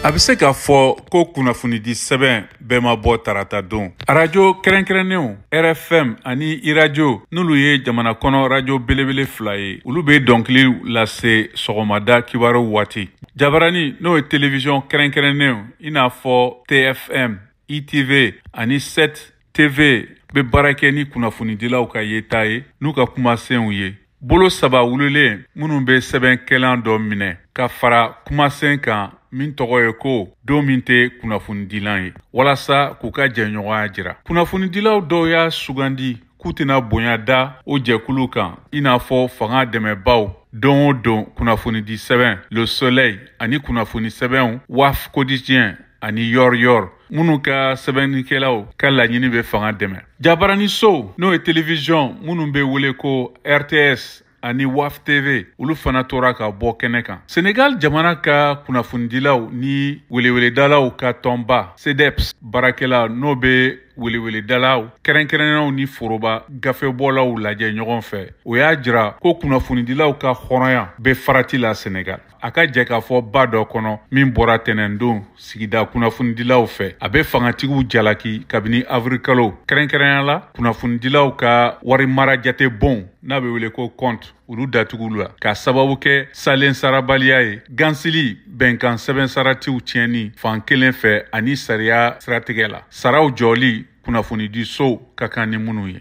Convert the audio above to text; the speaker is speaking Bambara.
a bɛ se k'a fɔ ko kunnafonidi sɛbɛn bɛɛ ma bɔ tarata don arajo kɛrɛnkɛrɛnnenw rfm ani iradio n'olu ye jamana kɔnɔ rajo belebele fila ye olu bɛ dɔnkiliw lase sɔgɔmada kibaru waati jabarani n'o ye televiziyɔn kɛrɛnkɛrɛnnenw i n'a fɔ tfm itv ani 7 tv bɛ baara kɛ ni kunnafonidilaw ka yeta ye n'u ka kumasenw ye bolo saba wulilen minnu bɛ sɛbɛnkɛlan dɔ minɛ ka fara kumasen kan min tɔgɔ ye ko don min tɛ kunnafonidilan ye walasa k'u ka jɛɲɔgɔnya jira kunnafonidilaw dɔw y'a sugandi k'u tɛna bonya da o jɛkulu kan i n'a fɔ fanga dɛmɛbaw don o don kunnafonidi sɛbɛn le soleil ani kunnafoni sɛbɛnw walf quotidien ani yoor yoor minnu ka sɛbɛnnikɛlaw ka laɲini bɛ fanga dɛmɛ jabarani sow n'o ye televiziyɔn minnu bɛ wele ko rts ani walf tv olu fana tora ka bɔ kɛnɛ kan senegal jamana ka kunnafonidilaw ni weleweledalaw ka tɔnba cdeps baarakɛla n'o bɛ weleweledalaw kɛrɛnkɛrɛnnenw ni foroba gafebɔlaw lajɛ ɲɔgɔn fɛ o y'a jira ko kunnafonidilaw ka hɔrɔnya bɛ farati la senegal a ka jɛkafɔba dɔ kɔnɔ min bɔra tɛnɛndon sigida kunnafonidilaw fɛ a bɛ fangatigiw jalaki kabini avril kalo kɛrɛnkɛrɛnya la kunnafonidilaw ka wari mara jate bon n'a bɛ wele ko compte olu datugula k'a sababu kɛ salen sarabaliya ye gansili bɛnkan sɛbɛn saratiw tiɲɛni fan kelen fɛ ani sariya siratigɛ la saraw jɔli kunnafonidi sow ka kan ni minnu ye